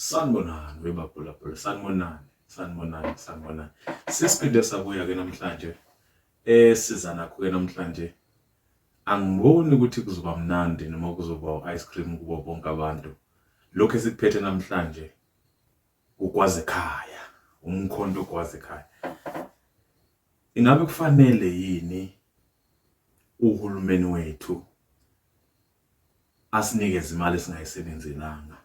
Sanibonani webabhulabhula, sanibonani, sanibonani, sanibonani. Sesiphinde sabuya-ke namhlanje eh siza nakho-ke namhlanje angiboni ukuthi kuzoba mnandi noma kuzoba u-ice cream kubo bonke abantu. Lokhu esikuphethe namhlanje Ugwazekhaya, umkhonto ugwazekhaya. Ingabe kufanele yini uhulumeni wethu asinikeze imali esingayisebenzelanga?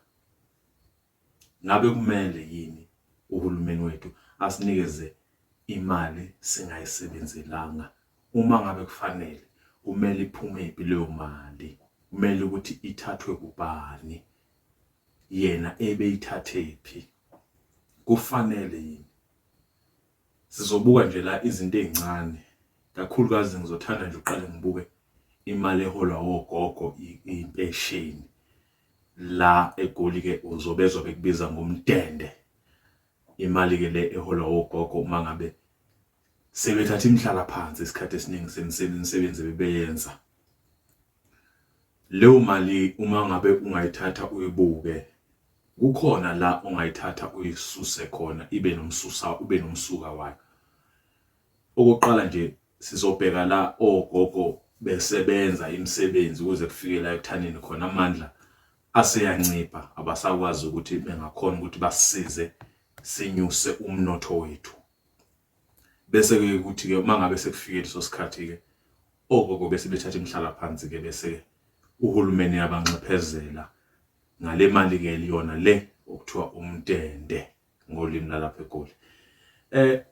Ngabe kumele yini uhulumeni wethu asinikeze imali singayisebenzelanga? Uma ngabe kufanele, kumele iphumephi leyo mali? Kumele ukuthi ithathwe kubani? yena ebeyithathephi kufanele yini sizobuka nje la izinto ezincane kakhulukazi ngizothanda nje uqale ngibuke imali eholwa wogogo impesheni la egoli ke uzobezwa bekubiza ngomdende imali ke le eholwa wogogo uma ngabe sebethatha imihlala phansi isikhathi esiningi semisebenzi bebeyenza leyo mali uma ngabe ungayithatha uyibuke kukhona la ongayithatha uyisuse khona ibe nomsusa ube nomsuka wayo okokuqala nje sizobheka la ogogo besebenza imisebenzi ukuze kufike la ekuthaneni khona amandla aseyancipha abasakwazi ukuthi bengakhona ukuthi basize sinyuse umnotho wethu Bese-ke kuthi-ke uma ngabe sekufike leso sikhathi-ke ogogo bese bethatha imihlalaphansi-ke bese uhulumeni abanxephezela ngale mali-ke liyona le okuthiwa umtende ngolimi lalapha eGoli. Eh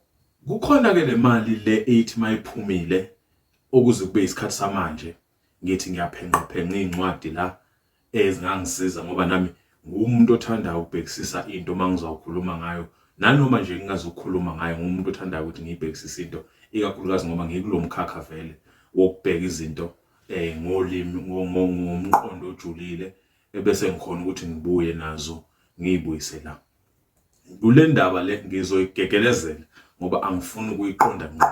kukhona-ke le mali le eyithi mayiphumile okuze kube isikhathi samanje ngithi ngiyaphenqaphenqa iy'ncwadi la ezingangisiza ngoba nami ngumuntu othanda ukubhekisisa into uma ngizawukhuluma ngayo nanoma nje ngingazukhuluma ngayo ngumuntu othandayo ukuthi ngiyibhekisise into ikakhulukazi ngoba ngikulo mkhakha vele wokubheka izinto eh ngolimi ngomqondo ojulile ebese ngikhona ukuthi ngibuye nazo ngiyibuyise la Kule ndaba le ngizoyigegelezela ngoba angifuni ukuyiqonda ngqo.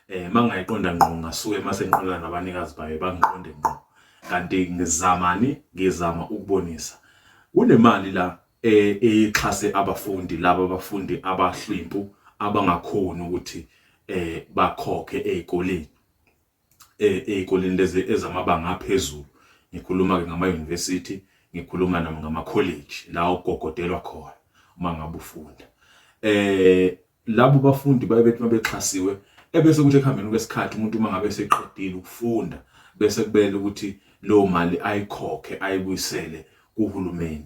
Eh mangayiqonda ngqo ngasuke mase ngiqonda nabanikazi bayo bangiqonde ngqo. Kanti ngizamani ngizama ukubonisa. Kunemali la eh, eyixhase abafundi laba abafundi abahlwimpu abangakhoni ukuthi eh bakhokhe ezikoleni. eh, ey'koleni lezi ezamabanga aphezulu ngikhuluma-ke ngama-university ngikhuluma nami ngama-college la ogogodelwa khona uma ngabe ufunda um labo bafundi baye bethi uma bexhasiwe ebese kuthi ekuhambeni kwesikhathi umuntu uma ngabe eseqedile ukufunda bese kubele ukuthi leyo mali ayikhokhe ayibuyisele kuhulumeni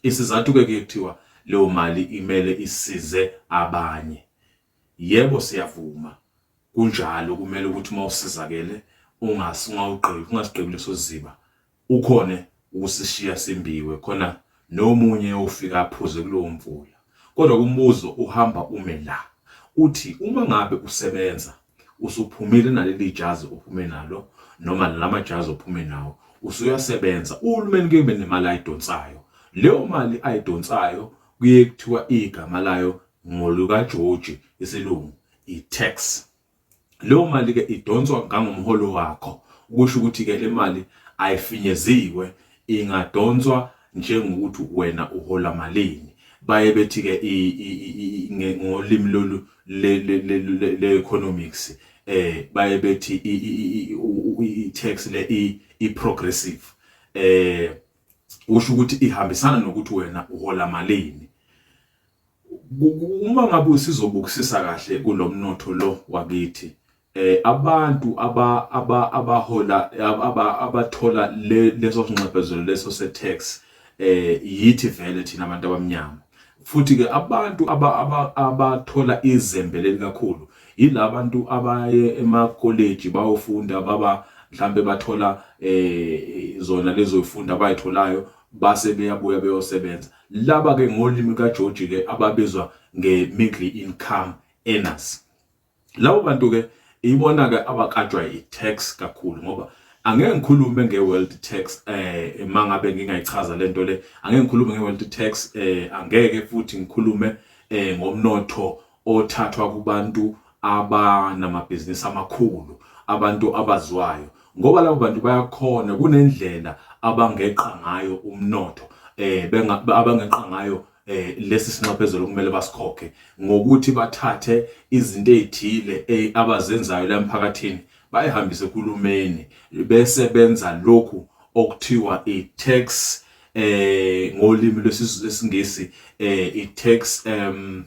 isizathu-ke ke kuthiwa leyo mali imele isize abanye Yebo siyavuma kunjalo kumele ukuthi uma usizakele ungasi ungawugqibi ungasigqibi leso siziba ukhone ukusishiya simbiwe khona nomunye ofika aphuze kulowo mvula kodwa kumbuzo uhamba ume la uthi uma ngabe usebenza usuphumile naleli jazi ophume nalo noma lama jazi ophume nawo usuyasebenza uhulumeni kube nemali ayidonsayo leyo mali ayidonsayo kuye kuthiwa igama layo Ngolukajoji, isilungu, i-tax. Leyo mali-ke idonswa ngangomholo wakho, kusho ukuthi-ke le mali ayifinyeziwe, ingadonswa njengokuthi wena uhola malini. Baye bethi-ke ngolimi lolu le-economics um eh, baye bethi i-tax le i-progressive um eh, kusho ukuthi ihambisana nokuthi wena uhola malini. Uma ngabe usizobukisisa kahle kulo mnotho lo wakithi eh abantu aba aba abahola aba abathola leso sinxephezelo leso se-tax eh yithi vele thina abantu abamnyama futhi ke abantu abathola izembe lelikakhulu yilabantu abaye emakoleji bayofunda baba mhlambe bathola eh zona lezo funda abayitholayo base beyabuya beyosebenza Laba ke ngolimi kaJoji ke ababizwa nge-middle income earners. Labo bantu ke ibona ke abakatshwa i-tax kakhulu ngoba angeke ngikhulume nge-world tax eh mangabe ngingayichaza lento le angeke ngikhulume nge-world tax eh angeke futhi ngikhulume eh ngomnotho othathwa kubantu abanamabhizinisi amakhulu abantu abazwayo ngoba labo bantu bayakhona kunendlela abangeqa ngayo umnotho eh abangeqa ngayo eh lesi sinxephezelo okumele basikhokhe ngokuthi bathathe izinto ezithile eh, abazenzayo la emphakathini bayihambise kulumeni bese benza lokhu okuthiwa i-tax eh ngolimi lwesizulu lesingisi eh i-tax um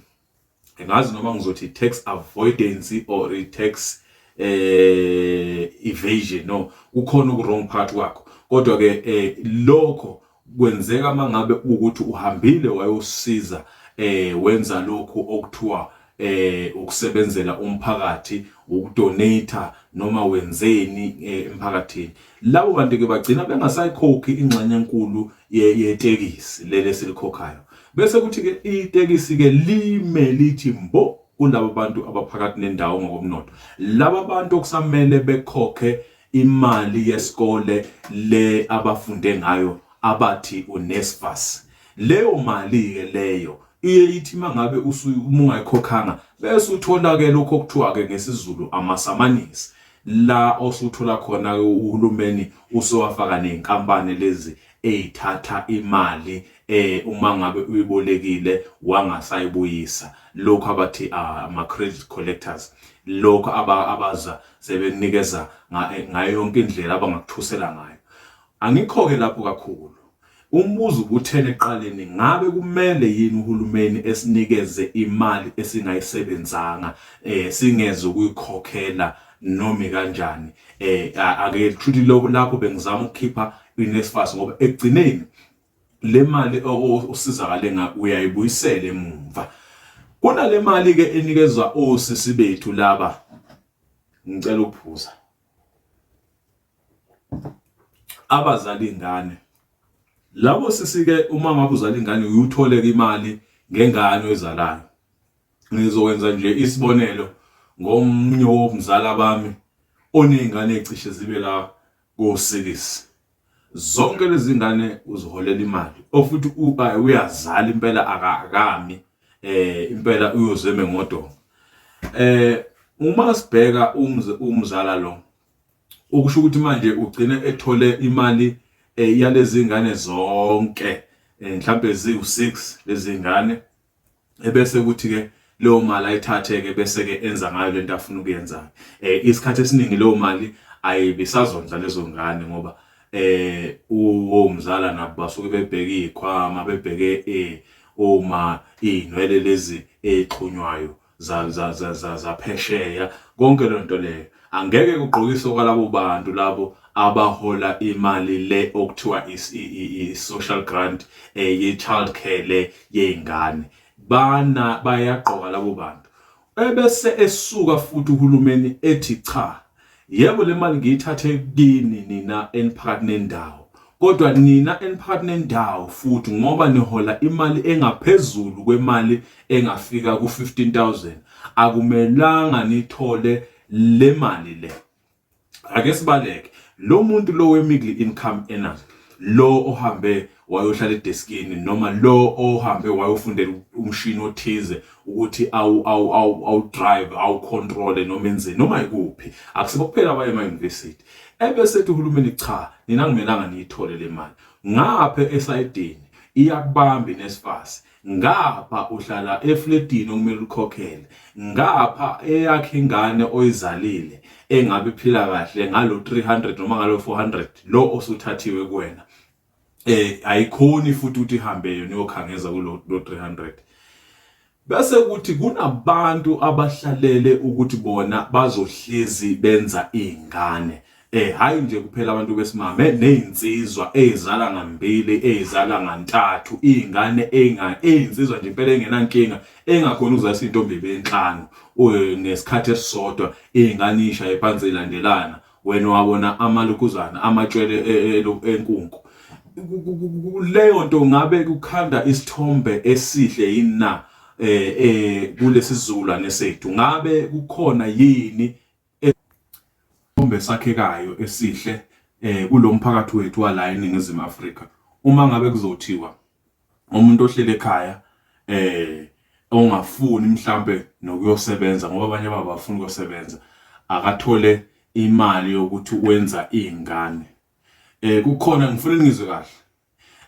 ngazi noma ngizothi tax avoidance or tax eh evasion no kukhona uku wrong part kwakho kodwa ke eh, lokho kwenzeka mangabe ukuthi uhambile wayosiza eh wenza lokhu okuthiwa eh ukusebenzela umphakathi ukudonate noma wenzeni eh, emphakathini Labo bantu-ke bagcina bengasayikhokhi ingxenye enkulu yetekisi leli esilikhokhayo. Bese kuthi-ke itekisi-ke lime lithi mbo kulaba bantu abaphakathi nendawo ngokomnotho. Laba bantu okusamele bekhokhe imali yesikole le abafunde ngayo abathi uNSFAS. Leyo mali-ke leyo iye ithi uma ngabe uma ungayikhokhanga bese uthola-ke lokho okuthiwa-ke ngesiZulu amasamanisi. la osuthola khona-ke uhulumeni usewafaka ney'nkampani lezi ey'thatha imali eh uma ngabe uyibolekile wangasayibuyisa lokho abathi ah, ama-credit collectors lokho abaza sebekunikeza eh, ngayo yonke indlela abangakuthusela ngayo angikho-ke lapho kakhulu Umbuzo ubuthele eqaleni ngabe kumele yini uhulumeni esinikeze imali esingayisebenzanga eh singeze ukuyikhokhela noma kanjani eh ake lithuthi lokho lapho bengizama ukukhipha iNSFAS ngoba ekugcineni le mali osizakale ngayo uyayibuyisela emumva kunale mali ke enikezwa osisi bethu laba ngicela ukuphuza abazali ingane labo sisike uma ngabe uzala ingane uyutholeka imali ngengane oyizalayo ngizokwenza nje isibonelo ngomunye womzala bami onezingane ecishe zibe la kosikisi zonke lezi ngane uziholela imali ofuthi uyazala impela akakami eh impela uyozeme ngodonga eh uma sibheka umzala lo okusho ukuthi manje ugcine ethole imali eh, yalezi ngane zonke eh, mhlampe ziwu-6 lezi ngane ebese kuthi-ke leyo mali ayithathe-ke bese-ke enza ngayo lento afuna ukuyenza eh isikhathi esiningi leyo mali ayibisazondla lezo ngane ngoba eh uwomzala nabo basuke bebheke ikhwama bebheke eh uma inwele lezi exhunywayo zaphesheya konke leyo nto leyo angeke kugqokiswe kwalabo bantu labo abahola imali le okuthiwa i-social grant eh, ye-child care le yey'ngane bana bayagqoka labo bantu ebese esuka futhi uhulumeni ethi cha Yebo le mali ngiyithathe kini nina eniphakathi nendawo, kodwa nina eniphakathi nendawo futhi ngoba nihola imali engaphezulu kwemali engafika ku-15000 akumelanga nithole le mali le. Ake sibaleke lo muntu lo we-middle income earners lo ohambe wayohlala edeskini noma lo ohambe wayofundela umshini othize ukuthi awu awu awu awu drive awu control noma enzeni noma ikuphi akusibo kuphela abaye ema university ebese ethi uhulumeni cha nina ngimelanga niyithole le mali ngapha esayidini iyakubambi nesifasi ngapha uhlala efletini okumele ukhokhele ngapha eyakhe ingane oyizalile engabe iphila kahle ngalo 300 noma ngalo 400 lo osuthathiwe kuwena eh ayikhoni futhi ukuthi ihambe yona iyokhangeza kulo 300 bese kuthi kunabantu abahlalele ukuthi bona bazohlezi benza izingane eh hayi nje kuphela abantu besimame nezinsizwa ezizala ngambili ezizala ngantathu izingane enga ezinsizwa nje impela engenankinga engakhona ukuzalisa intombi benhlanu eh, ngesikhathi esisodwa izingane isha ephansi ilandelana wena wawona amalukuzana amatshwele e, e, e, enkunku leyo nto ngabe kukhanda isithombe esihle yini na eh eh kulesi sizukulwane sethu ngabe kukhona yini isithombe sakhekayo esihle eh kulomphakathi wethu wala eningizimu Afrika uma ngabe kuzothiwa umuntu ohlele ekhaya eh ongafuni mhlambe nokuyosebenza ngoba abanye baba bafuna ukusebenza akathole imali yokuthi wenza izingane eh kukhona ngifuna ngizwe kahle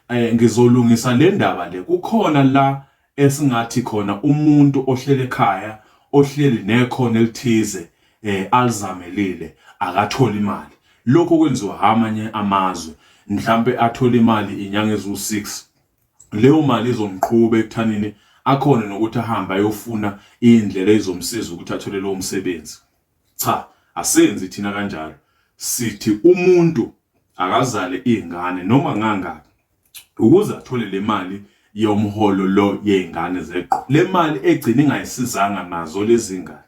eh ngizolungisa le ndaba le kukhona la esingathi khona umuntu ohlele ekhaya ohleli nekhono elithize eh alizamelile akatholi imali lokho kwenziwa amanye amazwe mhlambe athola imali inyanga ezu6 leyo mali izomqhuba ekuthanini akhona nokuthi ahambe ayofuna indlela ezomsiza ukuthi athole lowo msebenzi cha asenzi thina kanjalo sithi umuntu akazale izingane noma ngangaki ukuze athole le mali yomholo lo yey'ngane zeqo le mali egcina ingayisizanga nazo lezi ngane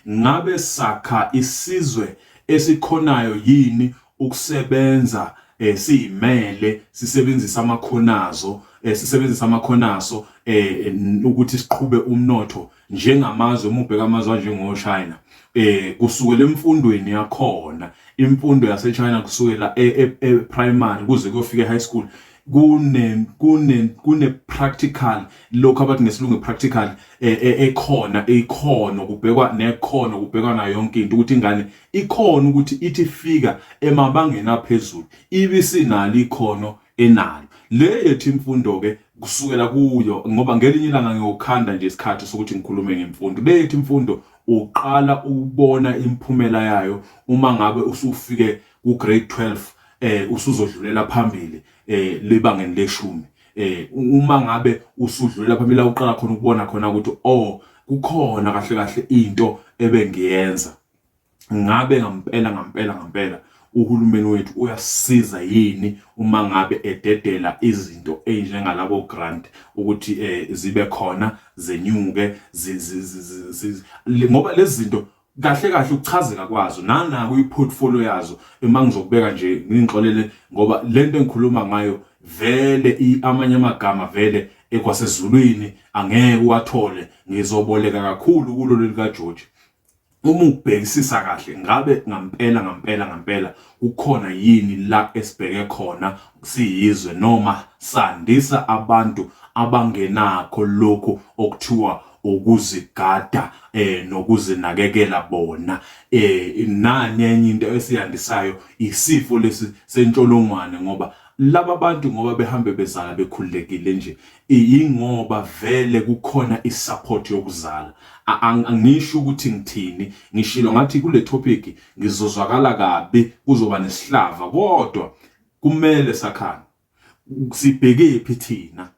ngabe sakha isizwe esikhonayo yini ukusebenza eh siyimele sisebenzisa amakhonazo eh sisebenzisa amakhonaso eh ukuthi siqhube umnotho njengamazwe uma ubheka amazwe anjengochina eh kusukela emfundweni yakhona imfundo yasechina kusukela e-primary e, e, kuze kuyofika e-high school kune kune kune practical lokho abathi ngesilungu practical eh, eh, ekhona ikhono kubhekwa nekhono kubhekwa na yonke into ukuthi ingane ikhona ukuthi ithi fika emabangeni aphezulu ibisi nalo ikhono enalo le yethu imfundo ke kusukela kuyo ngoba ngelinye ilanga ngiyokhanda nje isikhathi sokuthi ngikhulume ngemfundo le yethu imfundo uqala ukubona imphumela yayo uma ngabe usufike ku grade 12 eh usuzodlulela phambili eh lebangeni leshumi eh uma ngabe usudlulela phambili uqala khona ukubona khona ukuthi oh kukhona kahle kahle into ebengiyenza ngabe ngampela ngampela ngampela uhulumeni wethu uyasiza yini uma ngabe ededela izinto ezinjengalabo grant ukuthi eh zibe khona zenyuke ngoba lezi zinto kahle kahle ukuchazeka kwazo nanako iportfolio yazo uma ngizokubeka nje ngingixolele ngoba lento engikhuluma ngayo vele amanye amagama vele ekwasezulwini angeke uwathole ngizoboleka kakhulu kulo leli kaJoji uma ubhekisisa kahle ngabe ngampela ngampela ngampela kukhona yini la esibheke khona siyizwe noma sandisa abantu abangenakho lokhu okuthiwa ukuzigada eh nokuzinakekela bona eh nanye enye into esiyandisayo isifo lesi sentsholongwane ngoba Laba bantu ngoba behambe bezala bekhululekile nje yingoba vele kukhona isupport yokuzala. A- ang- Angisho ukuthi ngithini, ngishilo ngathi kule topic ngizozwakala kabi kuzoba nesihlava kodwa kumele sakhane sibhekephi thina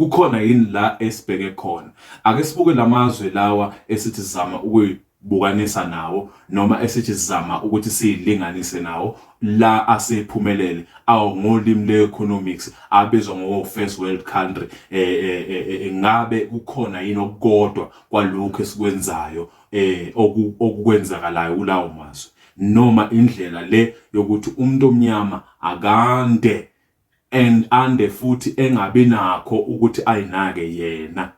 kukhona yini la esibheke khona ake sibuke lamazwe lawa esithi sizama ukuyibukanisa nawo noma esithi sizama ukuthi siyilinganise nawo la asephumelele awu ngolimi le-economics abizwa ngowo-first world country um ngabe kukhona yini okukodwa kwalokhu esikwenzayo um okukwenzakalayo kulawo mazwe noma indlela le yokuthi umuntu omnyama akande and ande futhi engabi nakho ukuthi ayinake yena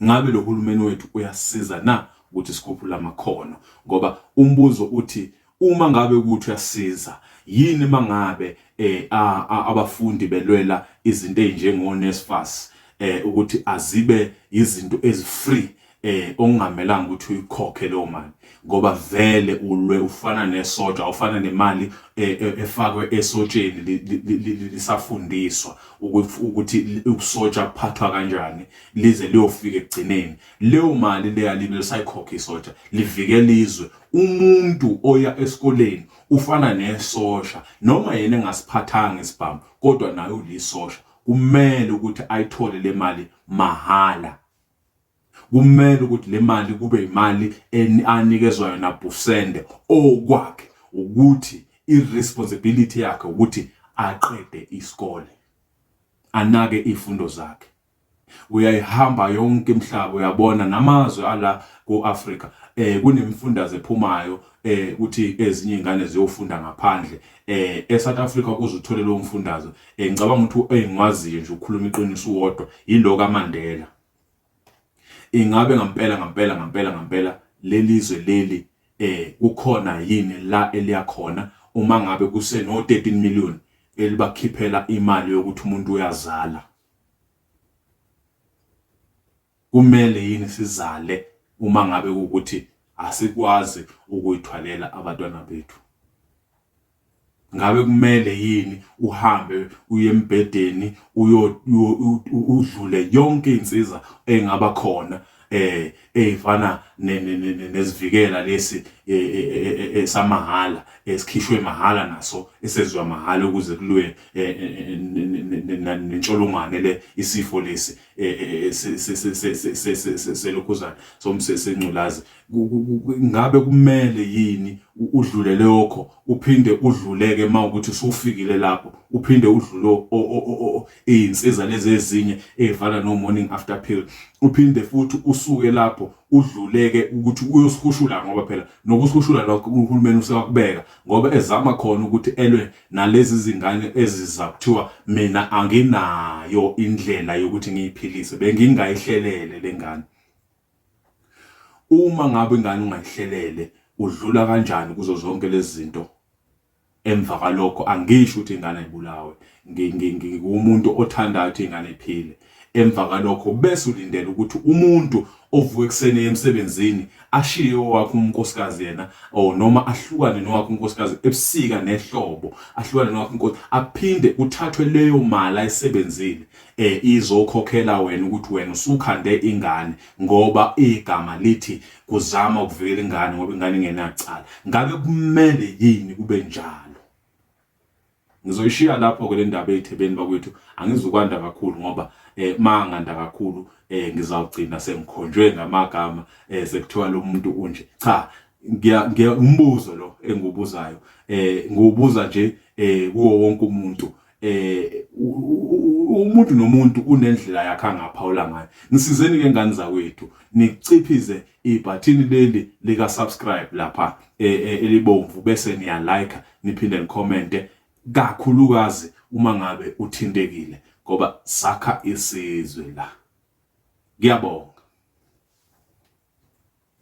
ngabe lo hulumeni wethu uyasiza na ukuthi sikhuphule amakhono ngoba umbuzo uthi uma ngabe ukuthi uyasiza yini mangabe eh abafundi belwela izinto ezinjengo NSFAS eh ukuthi azibe izinto ezifree eh ongamelanga ukuthi uyikhokhe leyo mali ngoba vele ulwe ufana nesotha ufana nemali e, e, efakwe esotsheni lisafundiswa ukuthi usotsha kuphathwa kanjani lize liyofika ekugcineni leyo mali leya libe lisayikhokha isotha livikela izwe umuntu oya esikoleni ufana nesosha noma yena engasiphathanga isibhamu kodwa naye ulisosha kumele ukuthi ayithole le mali mahhala kumele ukuthi le mali kube imali anikezwa yona busende okwakhe ukuthi i-responsibility yakhe ukuthi aqede isikole anake izifundo zakhe uyayihamba yonke imhlaba uyabona namazwe ala ku-Afrika eh kunemifundaze ephumayo eh ukuthi ezinye ingane ziyofunda ngaphandle eh eSouth Africa ukuze uthole lo mfundazo eh ngicabanga ukuthi engiwaziyo nje ukukhuluma iqiniso uwodwa yilo kaMandela ingabe ngampela ngampela ngampela ngampela lelizwe leli eh kukhona yini la eliya khona uma ngabe kuseno 13 million elibakhiphela imali yokuthi umuntu uyazala Kumele yini sizale uma ngabe kuwukuthi asikwazi ukuyithwalela abantwana bethu? Ngabe kumele yini uhambe uye embhedeni udlule yonke insiza engaba khona eh ezifana nesivikela lesi e, e, e, esamahhala esikhishwe mahhala naso esezwa mahhala ukuze kulwe nentsholongwane le isifo lesi selokhuzana somsesengculazi ngabe kumele yini udlule lokho uphinde udluleke uma ukuthi usufikile lapho uphinde udlule iy'nsiza lezi ezinye ey'fana no-morning after pill uphinde futhi usuke lapho udluleke ukuthi uyosihushula ngoba phela nokusihushula lokho uhulumeni usewakubeka ngoba ezama khona ukuthi elwe nalezi zingane eziza kuthiwa mina anginayo indlela yokuthi ngiyiphilise bengingayihlelele lengane uma ngabe ingane ungayihlelele udlula kanjani kuzo zonke lezi zinto emva kwalokho angisho ukuthi ingane ayibulawe ngingumuntu othandayo ukuthi ingane iphile Emva kalokho bese ulindela ukuthi umuntu ovuka ekuseni emsebenzini ashiye owakhe unkosikazi yena or noma ahlukane nowakhe unkosikazi ebusika nehlobo ahlukane nowakhe unkosikazi aphinde kuthathwe leyo mali ayisebenzile eh izokhokhela wena ukuthi wena usukhande ingane ngoba igama lithi kuzama ukuvikela ingane ngoba ingane ingenacala ngabe kumele yini kube njalo Ngizoyishiya lapho ke le ndaba ey'thebeni bakwethu angizukwanda kakhulu ngoba eh ma nganda kakhulu eh ngizawugcina sengikhonjwe ngamagama eh sekuthiwa lo muntu unje cha ngiya umbuzo lo engiwubuzayo eh ngiwubuza nje eh kuwo wonke umuntu eh umuntu nomuntu unendlela yakhe angaphawula ngayo nisizeni ke ngani zakwethu niciphize ibhathini leli lika subscribe lapha e, e, elibomvu bese niya like niphinde nikhomente kakhulukazi uma ngabe uthintekile ngoba sakha isizwe la. Ngiyabonga.